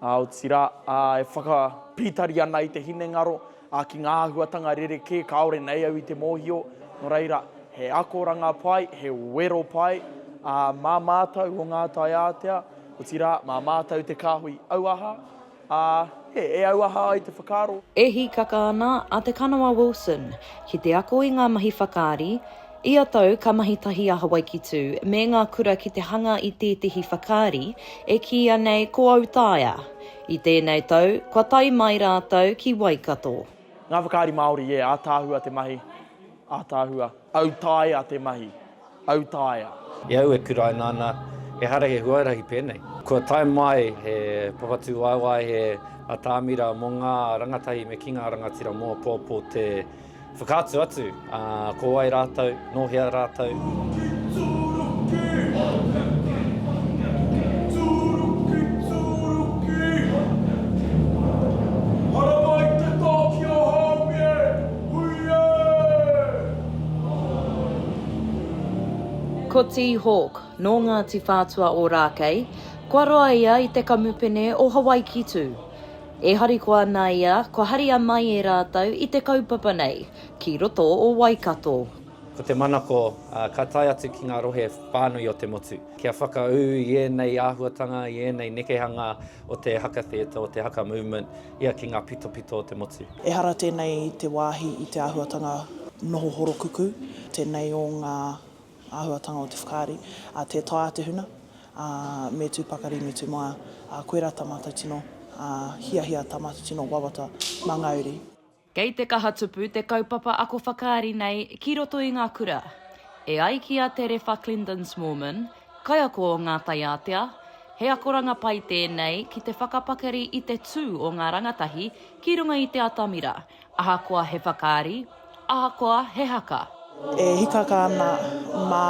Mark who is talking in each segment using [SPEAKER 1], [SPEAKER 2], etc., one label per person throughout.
[SPEAKER 1] Otirā, e whakapītari ana i te hinengaro ki ngā āhuatanga rerekē kāore nei au i te mōhio, nō reira, he akoranga pai, he wero pai mā mātou o ngā taiātea, otirā, mā mātou te kāhui auaha, ā, e auaha ai te whakaaro. E hīkaka ana
[SPEAKER 2] a Te Kanawa Wilson ki te ako i ngā mahi whakaari, Ia tau ka mahi tahi a Hawaiki Tū me ngā kura ki te hanga i tētehi whakaari e kīia nei Ko Autaia. I tēnei tau, kua tae mai rātou ki Waikato. Ngā whakaari
[SPEAKER 1] Māori, yeah, ātaahua te mahi, ātaahua. Autaia te mahi, autaia. I au e
[SPEAKER 3] kuraina ana, ehara he huarahi pēnei. Kua tae mai he papatūwaewae, he atamira mō ngā rangatahi me ki ngā rangatira mō apōapō te Whakaatu atu, ā, ko wai rātou, nō hea rātou?
[SPEAKER 2] Ko Ti Hawk, nō Ngāti Whātua-ōrākei, kua roa ia i te kamupene o Hawaiki-tū. E harikoa ana ia, kua haria mai e rātou i te kaupapa nei, ki roto o Waikato. Ko te manako,
[SPEAKER 3] ka tae atu ki ngā rohe whānui o te motu, kia whakaū i ēnei āhuatanga, i ēnei nekehanga o te haka theatre, o te haka movement, ia ki ngā pitopito o te motu. Ehara tēnei
[SPEAKER 4] te wāhi i te āhuatanga noho horokuku, tēnei o ngā Āhuatanga o te whakaari, tē taea te huna, me tū pakari, me tū maia, koirā tā mātou tino hiahia, tā mātou tino wawata mangauri. Kei te kaha
[SPEAKER 2] tupu te kaupapa ako whakaari nei ki roto i ngā kura. E ai ki a Te Rewha Clendon-Smallman, kaiako o Ngā Tai Ātea, he akoranga pai tēnei ki te whakapakari i te tū o ngā rangatahi ki runga i te atamira, ahakoa he whakaari, Ahakoa he haka. E hikaka
[SPEAKER 4] ana mā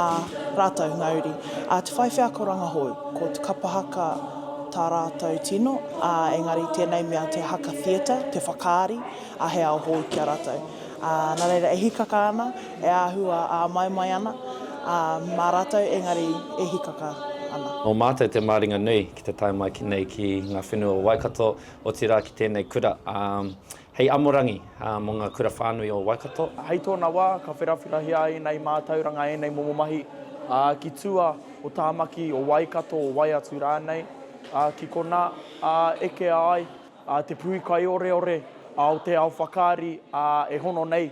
[SPEAKER 4] rātou ngā uri. Ā, te whai wheako rangahou, ko te kapa haka tā rātou tino, ā, engari tēnei mea te haka theatre, te whakaari, ā, he ao hou ki a rātou. Ā, nā reira, e hikaka ana, e āhua āmaimai ana, ā, mā rātou, engari e hikaka ana. Nō mātou te māringa
[SPEAKER 3] nui ki te tae mai ki nei ki ngā whenua o Waikato, otirā ki tēnei kura, ā, Hei amorangi mō ngā kura whānui o Waikato. Hei tōna wā, ka
[SPEAKER 1] wherawherahia ai ēnei mātauranga, ēnei momo mahi, ā, ki tua o Tāmaki, o Waikato, o wai atu rānei, ā, ki konā, ā, ekea ai, ā, te puhi kaioreore, ā, o te ao whakaari, ā, e hono nei.